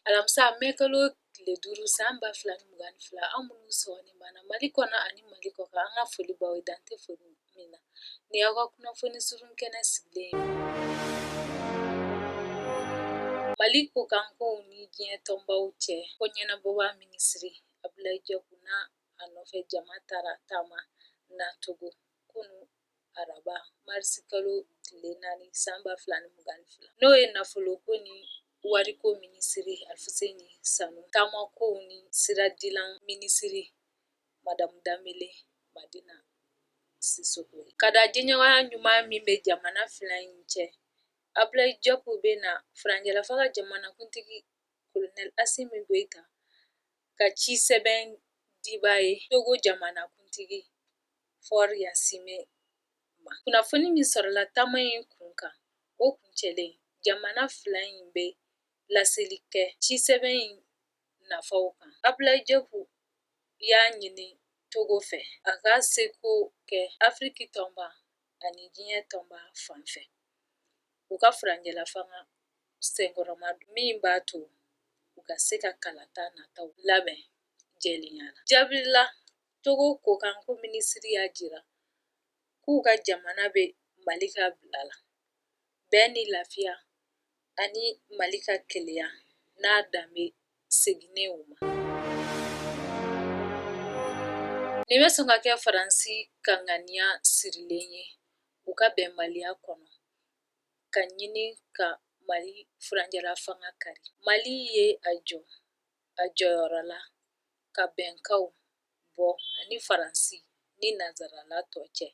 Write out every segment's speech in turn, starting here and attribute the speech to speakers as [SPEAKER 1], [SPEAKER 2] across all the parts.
[SPEAKER 1] Alamisa mɛ kalo tile duuru san ba fila ni mugan ni fila aw minnu sɔgɔlen b'an na mali kɔnɔ ani mali kɔ kan an ka foli b'aw ye dan tɛ foli min na nin y'aw ka kunnafoni surun kɛnɛ sigilen ye mali kɔ kan kow ni diɲɛ tɔnbaw cɛ ko ɲɛnabɔba minisiri abulayi jɔpu n'a nɔfɛ jama taara taama na togo kunu araba marisi kalo tile naani san ba fila ni mugan ni fila n'o ye nafolo ko ni wariko minisiri alufuseni sanu taama kow ni siradilan minisiri madamu danbele madina sisoko ye ka da jɛɲɔgɔnya ɲuman min bɛ jamana fila in cɛ abulayi jɔpu bɛ na furancɛlafanga jamanakuntigi kolonɛli asimi goyita ka ci sɛbɛn diba ye togo jamanakuntigi Fɔri Ɲasingbe ma. Kunnafoni min sɔrɔla taama in kun kan, o kuncɛlen, jamana fila in bɛ laseli kɛ cisɛbɛn in nafaw kan. Abulayi Jɔpu y'a ɲini Togo fɛ, a ka seko kɛ Afiriki tɔnba ani diɲɛ tɔnba fan fɛ, u ka furancɛlafanga senkɔrɔma don, min b'a to u ka se ka kalata nataw labɛn jɛlenya la. Jaabi la Togo kɔkanko minisiri y'a jira k'u ka jamana bɛ Mali ka bila la, bɛn ni lafiya ani Mali ka kelenya n'a danbe seginnen u ma. Nin bɛ sɔn ka kɛ Faransi ka ŋaniya sirilen ye u ka bɛnbaliya kɔnɔ ka ɲini ka Mali furancɛlafanga kari. Mali ye a jɔ a jɔyɔrɔ la ka bɛnkanw bɔ a ni Faransi ni nanzarala tɔ cɛ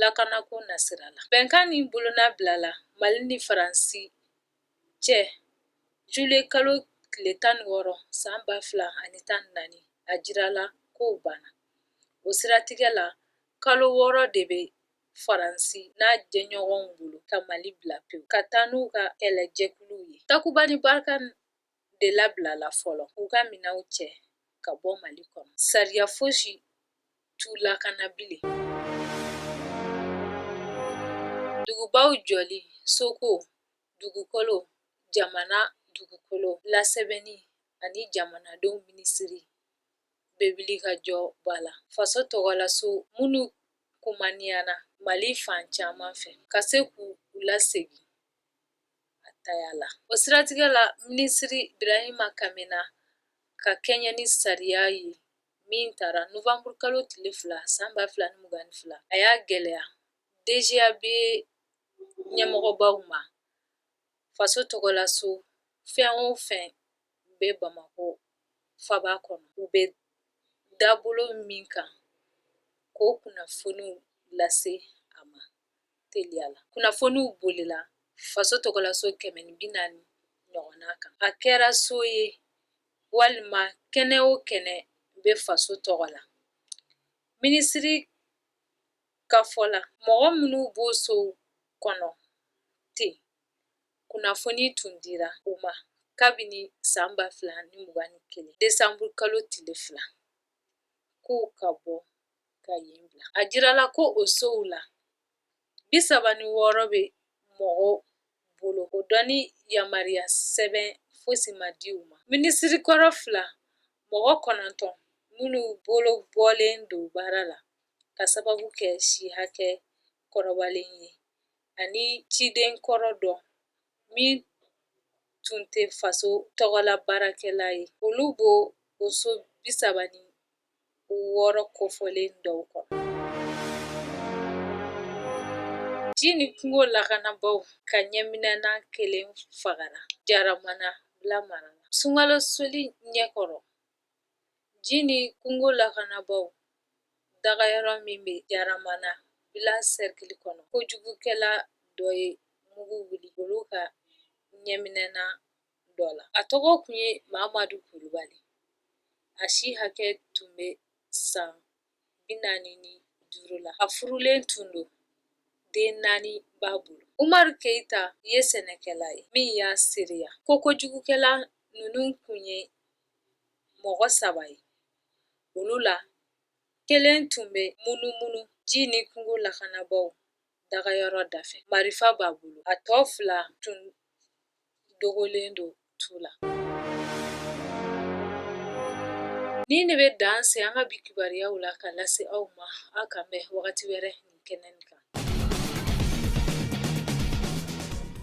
[SPEAKER 1] lakanako nasira la. Bɛnkan nin bolonɔ bilala Mali ni Faransi cɛ jule kalo tile tan ni wɔɔrɔ san ba fila ani tan ni naani a jirala k'o banna. O siratigɛ la kalo wɔɔrɔ de bɛ Faransi n'a jɛɲɔgɔnw bolo ka Mali bila pewu ka taa n'u ka kɛlɛjɛkuluw ye. Takuba ni Barkan de labilala fɔlɔ k'u ka minɛnw cɛ ka bɔ mali kɔnɔ sariya fosi t'u lakana bilen dugubaw jɔli soko dugukolo jamana dugukolo lasɛbɛnni ani jamanadenw minisiri bɛ wulikajɔba la faso tɔgɔlaso minnu kumaniyana mali fan caman fɛ ka se k'u lasegin a taya la. O siratigɛ la, minisiri Birahima Kamena ka kɛɲɛ ni sariya ye min tara novanburu kalo tile fila san ba fila ni mugan ni fila, a y'a gɛlɛya DGAB ɲɛmɔgɔbaw ma faso tɔgɔlaso fɛn o fɛn bɛ Bamakɔ faba kɔnɔ, u bɛ dabolo min kan k'o kunnafoniw lase a ma. teliya la kunnafoniw bolila faso tɔgɔlaso kɛmɛ ni bi naani ɲɔgɔnna kan a kɛra so ye walima kɛnɛ o kɛnɛ bɛ faso tɔgɔ la minisiri ka fɔ la mɔgɔ minnu b'o sow kɔnɔ ten kunnafoni tun dira u ma kabini san ba fila ni mugan ni kelen desanburu kalo tile fila k'u ka bɔ ka yen bila a jirala ko o sow la bi saba ni wɔɔrɔ bɛ mɔgɔw bolo o donni yamaruya sɛbɛn fosi ma di u ma minisiri kɔrɔ fila mɔgɔ kɔnɔntɔn minnu bolo bɔlen don baara la ka sababu kɛ si hakɛ kɔrɔbalen ye ani ciden kɔrɔ dɔ min tun tɛ faso tɔgɔla baarakɛla ye olu b'o o so bi saba ni wɔɔrɔ kofɔlen dɔw kɔnɔ. Ji ni kungo lakanabaaw ka ɲɛminɛna kelen fagara Jaramana Bila mara la. Sunkalo seli ɲɛkɔrɔ, ji ni kungo lakanabaaw dagayɔrɔ min bɛ Jaramana Bila sɛrikili kɔnɔ, kojugukɛla dɔ ye mugu wuli olu ka ɲɛminɛna dɔ la. A tɔgɔ tun ye Mamadu Kulubali. A si hakɛ tun bɛ san bi naani ni duuru la. A furulen tun don, den naani b'a bolo. Umaru Keyita ye sɛnɛkɛla ye min y'a seereya ko kojugukɛla ninnu tun ye mɔgɔ saba ye. Olu la, kelen tun bɛ munumunu ji ni kungo lakanabaaw dagayɔrɔ dafɛ marifa b'a bolo a tɔ fila tun dogolen don tu la nin de bɛ dan se an ka bi kibaruyaw la ka lase aw ma aw k'an bɛn wagati wɛrɛ nin kɛnɛ in kan